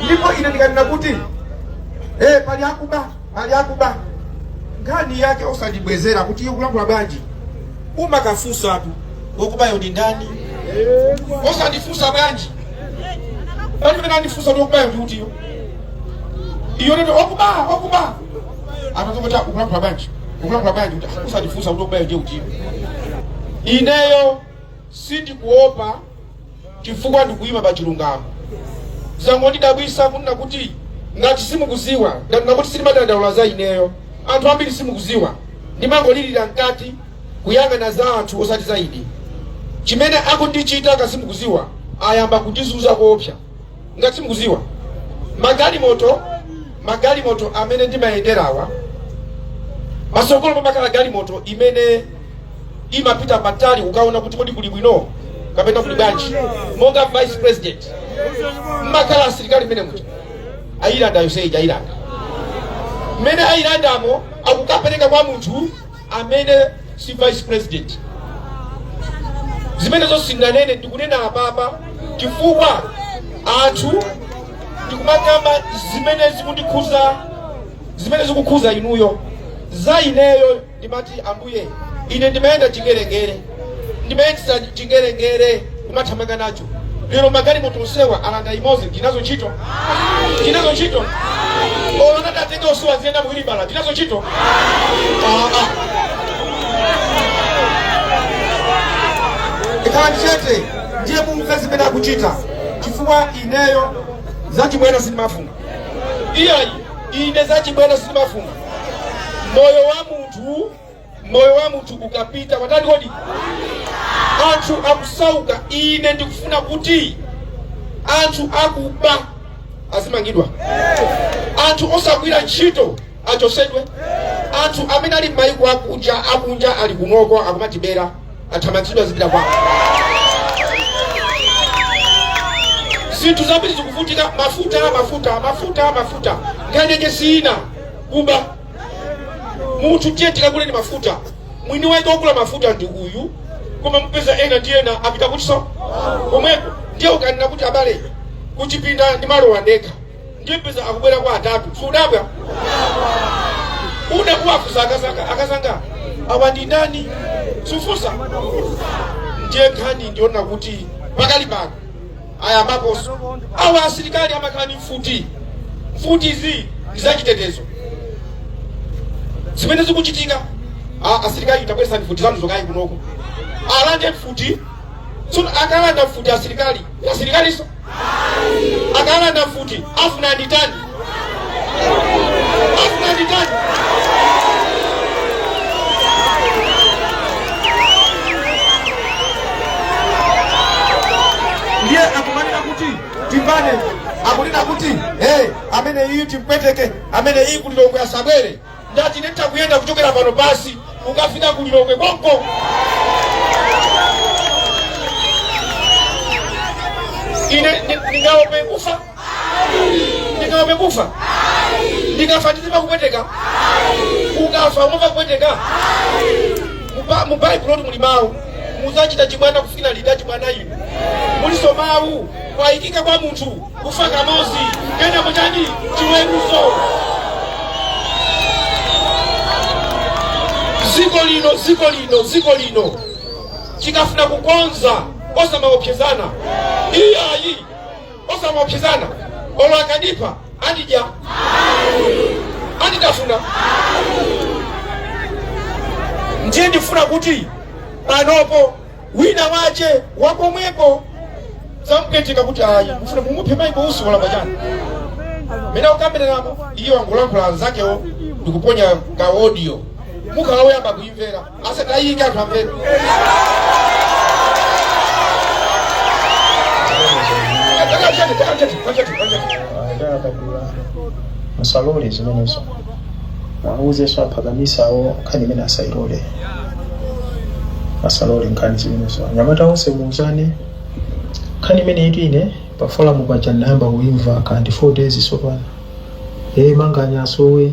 ndipo ine ndikanena kuti eh, pali akuba pali akuba nkhani yake osandibwezera kuti iwe ukulankhula bwanji umakafunsatu wokubayo ndi ndani osandifunsa bwanji pali pamene andifunsa kuti wokubayo ndi utiyo iyo nene okuba okuba anatoka kuti ukulankhula bwanji ukulankhula bwanji kuti usandifunsa kuti wokubayo ndi utiyo ineyo sindikuopa chifukwa ndikuyima pa chilungamo zangondidabwisa kunena kuti ngati simukuziwa nkhani nakuti sindimadandaula za ineyo anthu ambiri simukuziwa ndimangolirira mkati kuyang'ana za anthu osati za ine chimene akundichita kasimukuziwa ayamba kundizuza koopsa ngati simukuziwa magalimoto magalimoto amene ndimayenderawa pasogolo pamakhala galimoto imene imapita patali kukaona kuti kodi kuli bwino kapena kuli bwanji monga vice president mmakhala asilikali mmene muja ayilanda yonse ija ayilanda mmene ayilandamo akukapereka kwa munthu amene si vice president zimenezo singanene ndikunena apapa chifukwa anthu ndikumakamba zimene zikundikhuza zimene zikukhuza inuyo za ineyo ndimati ambuye ine ndimayenda chingerengere ndimayendetsa chingerengere kumathamanga nacho lero magalimoto onsewa alanda imodzi ndinazo ntchito ndinazo ntchito olo atatenga onsewa nziyenda muwilibala ndinazo ntchito Ah, ah. sikhala chete ndiye mumve zimene akuchita chifukwa ineyo zachibwana sindimafuna iyayi ine zachibwana sindimafuna moyo wa munthu moyo wa munthu ukapita watani kodi anthu akusauka ine ndikufuna kuti anthu akuba azimangidwa anthu osagwira ntchito achosedwe anthu amene ali m'mayiko akunja akunja ali kunoko akumatibera athamangitsidwe azipita kwawo zinthu zambiri zikuvutika mafuta mafuta mafuta mafuta nkhani yake si ina kuba munthu tiye tikaguleni mafuta mwini wake wogula mafuta ndi uyu koma mupeza ena ndi ena apita kuchiso komweko ndiye ukanena kuti abale kuchipinda ndimalowa ndekha ndiye mpeza akubwerako atatu sudabwa uda kuwafusa akazanga akazanga awa ndi ndani sufusa ndiye nkhani ndi yonena kuti pakali pano ayambaponso awa asilikali amakhala ndi mfuti mfutizi ndi zachitetezo zimene zikuchitika a- asilikali tabwesani mfuti zanu zokayi kunoko alande mfuti tsono akalanda mfuti asilikali asilikaliso akalanda mfuti afuna nditani ndiye akumanena kuti timbane akunena kuti hey, amene iyi timpweteke amene iyi kulilongwe asabwere ndati nditha kuyenda kuchokera pano pasi kukafika kulilongwe konko ine ndi- ndingaope kufa ndingaope kufa ndikafa ndizimva kupweteka ukafa umamva kupweteka Muba- mu baibulotu muli mawu muzachita chibwana kufikira liti achibwana inu muliso mawu kwayikika kwa munthu kufa kamozi kenako chani chiweruzo ziko lino ziko lino ziko lino tikafuna kukonza osamaopsezana iyayi osamaopsezana olo akandipha andidya anditafuna ndiye ndifuna kuti panopa wina wache wakomweko zamupweteka kuti ayi mufuna mumuphe maiko usi walamba chani mene ukambiranapo iye wangolankhula anzakewo ndikuponya ka audio mukhala woyamba kuimvera asatayika anthu amve musalole zimenezo mwauzeso aphakamisawo nkhani imeneyi asayilole asalole nkhani zimenezo anyamata onse muuzane nkhani imeneyitu ine pa forum paja ndinayamba kuimva kandi 4 days sopano ee manganya asowe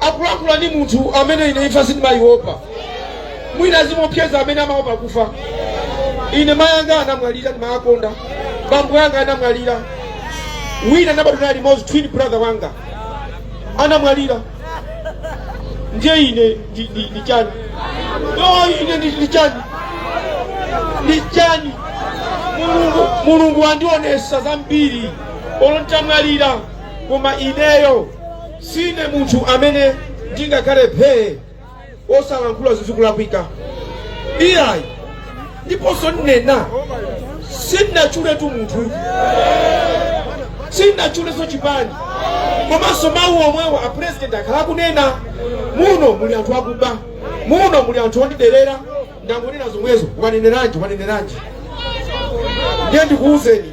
Akuluakulu ndi munthu amene ine imfa sindimaiopa. Mwina zimaopseza amene amaopa kufa. Ine mai anga anamwalira ndimawakonda. Bambo anga anamwalira. Wina ndinabadwa naye limodzi twin brother wanga anamwalira. Ndiye ine ndi ndi- ndi chani? No, ine ndi ndi chani? Ndi chani? Mulungu Mulungu andionesa zambiri olo ntamwalira koma ineyo Sine munthu amene ndingakhale phee osalankhula zizikulakwika iyayi ndiponso nnena sindinachuletu munthu sindinachuleso chipani komanso mawu omwewo a president akhala akunena muno muli anthu akuba muno muli anthu ondiderera ndangonena zomwezo waneneranji waneneranji ndiye ndikuwuzeni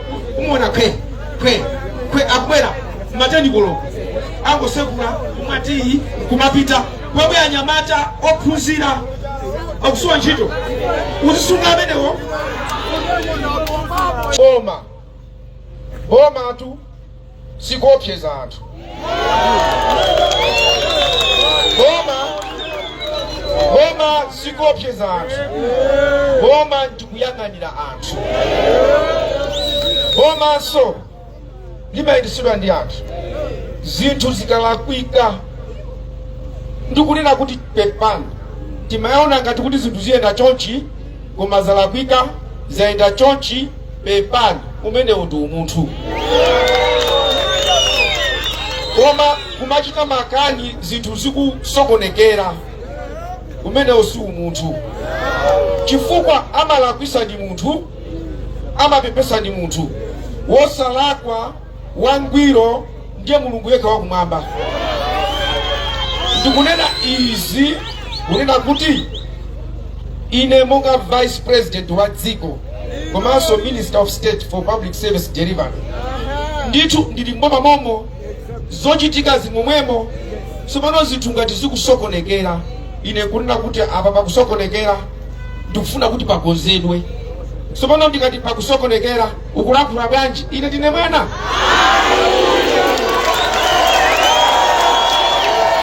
kumona kwe kwe kwe akubwera mateni koloko angosekula kumati kumapita kwawo anyamata ophunzira akusowa ntchito uziwasunga amenewo boma boma tu sikuopseza anthu boma boma sikuopseza anthu boma ndikuyang'anira anthu bomanso limayendetsedwa ndi anthu zinthu zikalakwika ndikunena kuti pepani timaona ngati kuti zinthu ziyenda chonchi koma zalakwika zayenda chonchi pepani umenewo ndi umunthu koma kumachita makani zinthu zikusokonekera umenewo si umunthu chifukwa amalakwisa ndi munthu amapepesa ndi munthu wosalakwa wangwiro ndiye Mulungu yekha wakumwamba. Ndikunena izi kunena kuti ine monga vice president wa dziko komanso minister of state for public service delivery ndithu ndili mboma momo zochitika zimomwemo tsopano zinthu ngati zikusokonekera ine kunena kuti apa pakusokonekera ndikufuna kuti pakonzedwe tsopano ndikati pakusokonekera ukulankhula bwanji ine ndine mwana